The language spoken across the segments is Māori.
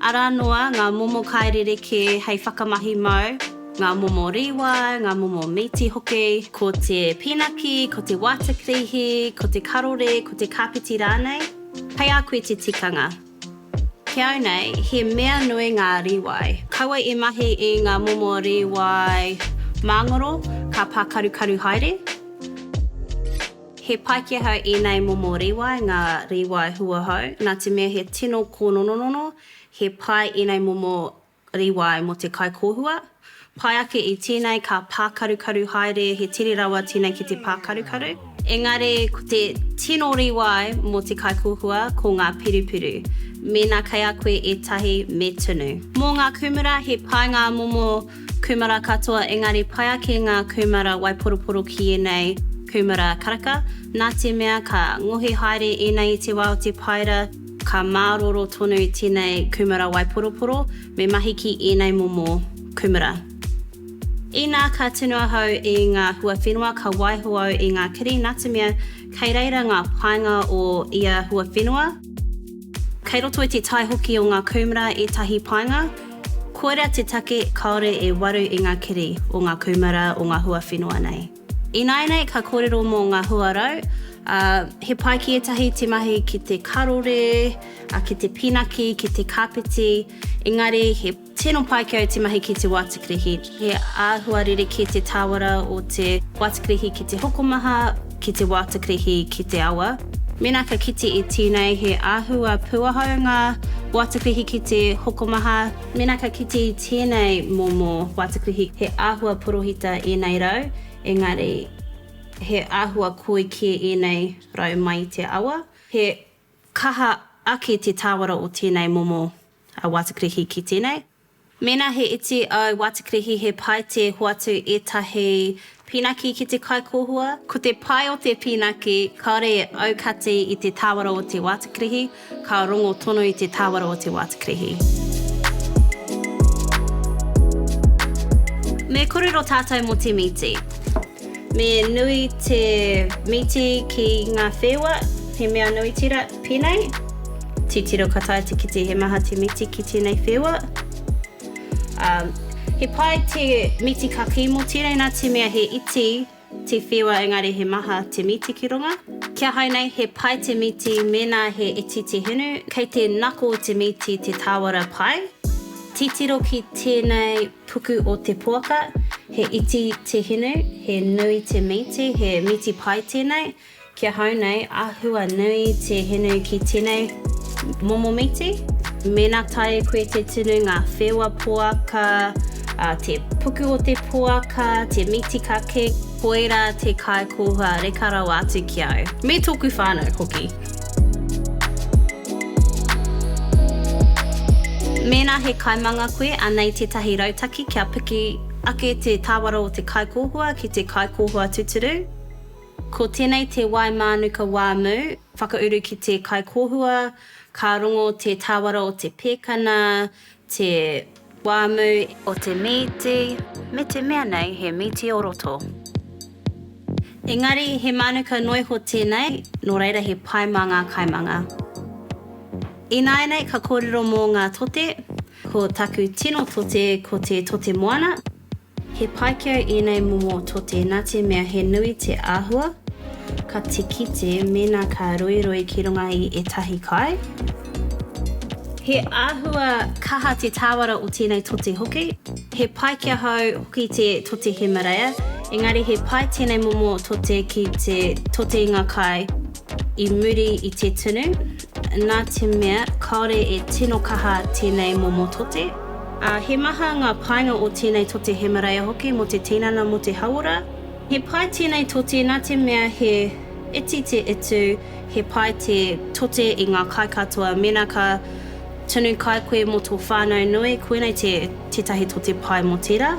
Arā noa ngā momo kai rerekē hei whakamahi mau, ngā momo rīwai, ngā momo mīti hoki, ko te pīnaki, ko te wātakirihi, ko te karore, ko te kāpeti rānei, hei a koe te tikanga. Ki au nei, he mea nui ngā rīwai. Kaua e mahi i ngā momo rīwai māngoro, ka pākarukaru haere. He Paikea hou ēnei momo rīwai, ngā rīwai huahou. Nā te mea he tino kōnononono, he pai ēnei momo rīwai mō te kaikōhua. Pai ake i tēnei ka pākarukaru haere, he tere rawa tēnei ki te pākarukaru. Engari ko te tino rīwai mō te kaikōhua ko ngā pirupiru. Mēnā kei a koe ētahi, me tunu. Mō ngā kūmara, he pai ngā momo Kūmara katoa engari pai ake ngā kūmara waiporoporo ki ēnei kūmara karaka, nā te mea ka ngohe haere ēnei i te wā o te paera, ka mārōrō tonu tēnei kūmara waiporoporo me mahi ki ēnei momo kūmara. Inā ka tunu ahau i ngā huawhenua ka waiho au i ngā kiri nā te mea kei reira ngā painga o ia huawhenua, kei roto i te tae hoki o ngā kūmara ētahi painga, Koira te take kāore e waru i ngā kiri o ngā kūmara o ngā hua whenua nei. Ināianei ka kōrero mō ngā hua rau, ā, he pai ki ētahi te mahi ki te karore, ā, ki te pinaki, ki te kāpeti, engari he tino pai ki au te mahi ki te wātikirihi. He āhua rerekē te tāwara o te wātakarihi ki te hokomaha, ki te wātakarihi ki te awa. Mēnā ka kite e tēnei he āhua pūahau ngā wātakarihi ki te hokomaha. Mēnā ka kite i tēnei momo wātakarihi he āhua porohita ēnei rau, engari he āhua koi kē ēnei rau mai i te awa. He kaha ake te tāwara o tēnei momo wātakarihi ki tēnei. Mēnā he iti au wātikirihi he pai tē hoatu ētahi pīnaki ki te kaikōhua. Ko te pai o te pīnaki kāore e aukati i te tāwara o te wātikirihi, ka rongo tonu i te tāwara o te wātikirihi. Me kōrero tātou mō te mīti. Me nui te mīti ki ngā wheua, he mea nui tira pēnei. Titiro ka taea te kite he maha te mīti ki tēnei wheua. He pai te mīti kakī mō tēnei nā te mea he iti te wheua engari he maha te mīti ki runga. Kia hai nei, he pai te mīti mēnā he iti te hinu, kei te nako te mīti te tāwara pai. Titiro ki tēnei. Puku o te poaka, he iti te hinu, he nui te mīti, he mīti pai tēnei, ki ahau nei, āhua nui te hinu ki tēnei momo mīti. Mēnā taea koe te tunu ngā wheua poaka, te puku o te poaka, te mīti kake, koirā te kāikoha reka rawa atu ki au, me tōku whānau hoki. Mēnā he kaimanga koe, anei tētahi rautaki kia piki ake te tāwara o te kaikōhua ki te kaikōhua tuturu. Ko tēnei te wai mānuka wā mū, whakauru ki te kaikōhua, ka rongo te tāwara o te pēkana te wāmu o te mīti me te mea nei he mīti o roto. Engari he mānuka noiho tēnei, nō reira he pai mā ngā kaimanga. Ināianei ka kōrero mō ngā tote, ko taku tino tote ko te tote moana, He paikea ēnei momo tote nā te mea he nui te āhua ka te kite mēnā ka roiroi ki runga i ētahi kai. He āhua kaha te tāwara o tēnei tote hoki. He paikea hou hoki te tote Himareia, engari he pai tēnei momo tote ki te tote i ngā kai. I muri i te tunu, nā te mea kāore e tino kaha tēnei momo tote. He maha ngā painga o tēnei tote Hemeraia hoki mō te tinana, mō te hauora. He pai tēnei tote nā te mea he iti te utu, he pai te tote i ngā kai katoa mēnā ka tunu kai koe mō tō whānau nui, koinei tētahi tote pai mō tērā.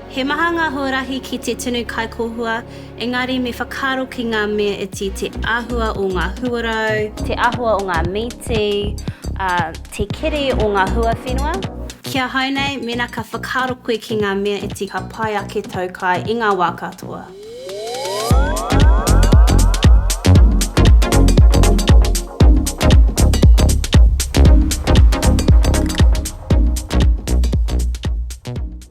He maha ngā huarahi ki te tunu kaikōhua, engari me whakaaro ki ngā mea iti, te āhua o ngā huarau, te āhua o ngā mīti, ā, te keri o ngā huawhenua. Ki ahau nei, mēnā ka whakaaro koe ki ngā mea iti ka pai ake tau kai i ngā wā katoa.